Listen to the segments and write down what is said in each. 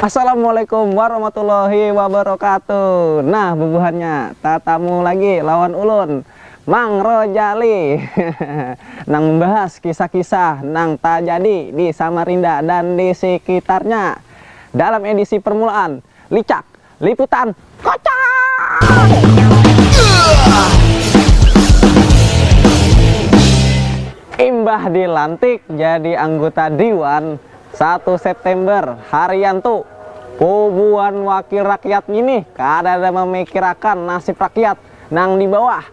Assalamualaikum warahmatullahi wabarakatuh Nah bubuhannya tatamu lagi lawan ulun Mang Rojali Nang membahas kisah-kisah nang tajadi di Samarinda dan di sekitarnya Dalam edisi permulaan Licak Liputan Kocak! Imbah dilantik jadi angguta Diwan satu September, Haryanto, puguan wakil rakyat nginih kadada mamikirakan nasib rakyat nang di bawah,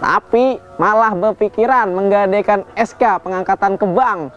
tapi malah bapikiran menggadekan SK pengangkatan ke bank.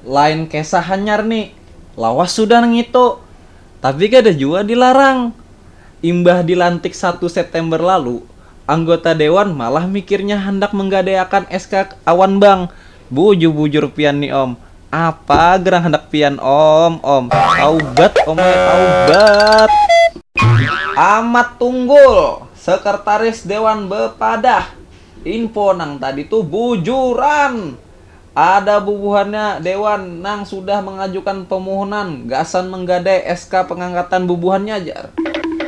Lain kesah hanyar ni, lawas sudah nang itu. Tapi kada jua dilarang. Imbah dilantik satu September lalu, anggota dewan malah mikirnya handak menggadaiakan SK awan bank. Bujur-bujur pian ni om, apa gerang handak pian om, om. Taubat om ai, taubat. Amat Tunggul, Sekretaris Dewan bepadah, info nang tadi tu bujuran. Ada bubuhannya dewan nang sudah mangajukan pamuhunan gasan manggadai SK pangangkatan bubuhannya jar.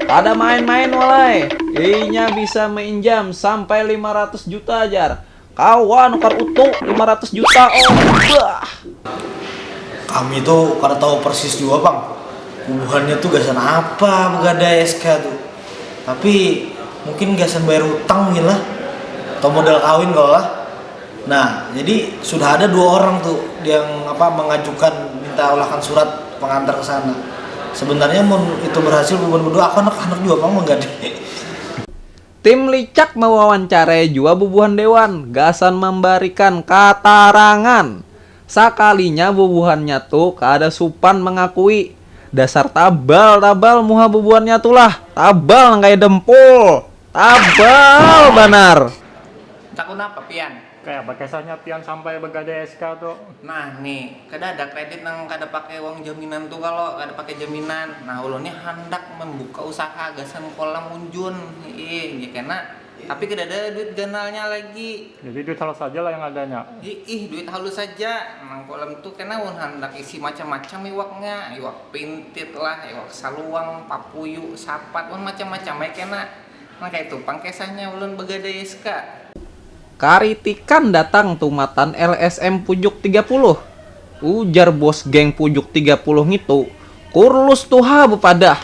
Kada main-main walai, inya bisa mainjam sampai lima ratus juta jar. Kawa nukar utu lima ratus juta oh, bah. Kami tu kada tahu persis jua pang bubuhannya tu gasan apa bagadai SK tu, tapi mungkin gasan bayar hutang mungkin lah atau modal kawin kawa lah. Nah, jadi sudah ada dua orang tuh yang apa mengajukan minta olahkan surat pengantar ke sana. Sebenarnya mun itu berhasil bubuhan berdua aku anak-anak jua pang manggadai. Tim licak mewawancarai jua bubuhan dewan gasan mambarikan katarangan. Sakalinya bubuhannya tu kada supan mangakui, dasar tabal tabal muha bubuhannya tu lah, tabal nang kaya dempul, tabal banar. Takut napa pian? Kaya apa kesahnya pian sampai begadai SK tu? Nah ni, kada ada kredit nang kada pakai uang jaminan tu kalo, kada pakai jaminan. Nah ulun ni handak membuka usaha gasan kolam unjun iih ja kena, tapi kada ada duit ganalnya lagi. Jadi duit halus haja lah yang adanya? Iih duit halus haja, nang kolam tu kena ulun handak isi macam-macam iwaknya, iwak pintit lah, iwak saluang, papuyu, sapat, wan macam-macam ai kena. Nah kaitu pang kesahnya ulun begadai ska. Karitikan datang tumatan LSM Pujuk tiga puluh. Ujar bos geng Pujuk tiga puluh ngitu, Kurlus tu ha bepadah,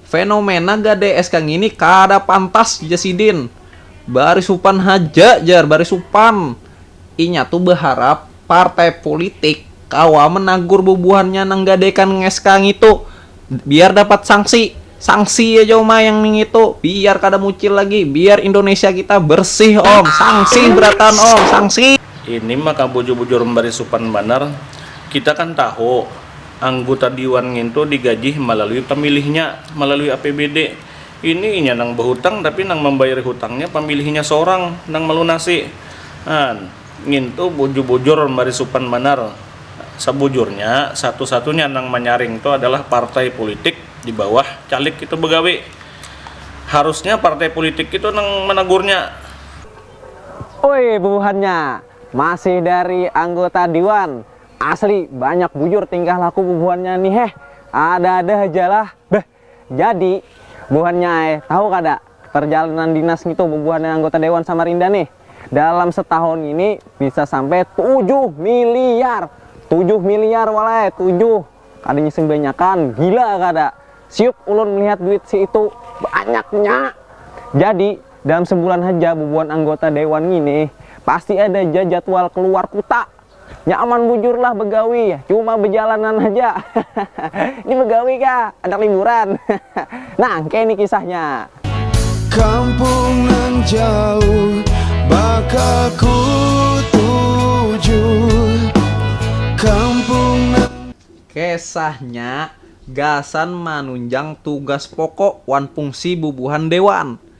fenomena gadai ska ngini kada pantas jar sidin. Baris supan haja jar, baris supan. Inya tu beharap partai pulitik kawa menagur bubuhannya nang gadaikan ska ngitu. biar dapat sanksi sanksi aja uma yang ningitu biar kada mucil lagi biar Indonesia kita bersih om sanksi beratan om sanksi Ini maka bujur-bujur membari supan banar. Kita kan tahu, angguta diwan ngintu digajih malalui pamilihnya, malalui APBD. Ini inya nang bahutang tapi nang mambayari hutangnya pamilihnya sorang nang malunasi. An. Ngintu bujur-bujur mari supan banar, sabujurnya satu-satunya nang manyaring tu adalah partai pulitik di bawah caleg itu bagawi. Harusnya partai pulitik itu nang managurnya. Ui bubuhannya masih dari anggota diwan, asli banyak bujur tingkah laku bubuhannya ni heh, ada-ada hajalah beh. Jadi, buhannya ai, tahu kada, perjalanan dinas ngitu bubuhannya anggota dewan Samarinda nih, dalam setahun ngini bisa sampai tujuh miliar! Tujuh miliar wal ai, tujuh! Kada ngising banyakan, gila kada? Siuk ulun melihat duit si itu, banyaknya! Jadi, dalam sebulan haja bubuhan anggota dewan ngini pasti ada ja jadwal keluar kuta. Nyaman bujur lah begawi, cuma bejalanan haja. Ini begawi kah? Handak liburan? Nangke ini kisahnya. Kampung nang jauh bakal ku tuju, kampung nang. Kesahnya gasan manunjang tugas pokok wan pungsi bubuhan dewan.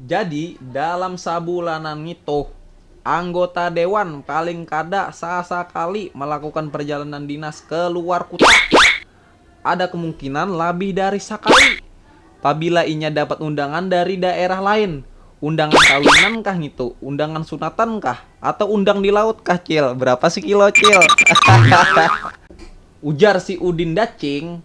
Jadi, dalam sabulanan ngitu, anggota dewan paling kada sasakali malakukan parjalanan dinas ke luar kuta. Ada kemungkinan labih dari sakali, pabila inya dapat undangan dari daerah lain. Undangan kawinan kah ngitu, undangan sunatan kah, atau undang di laut kah, Cil? Berapa sekilo, Cil? Hahaha. Ujar si Udin Dacing,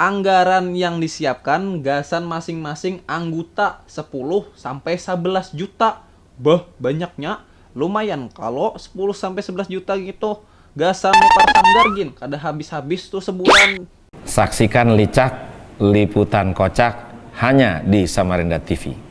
Anggaran yang disiapkan gasan masing-masing angguta sepuluh sampai sabelas juta. Beuh, banyaknya. Lumayan kalo sepuluh sampai sebelas juta ngitu gasan nukar sanggar gin kada habis-habis tuh sebulan. Saksikan licak liputan kocak hanya di Samarinda TV.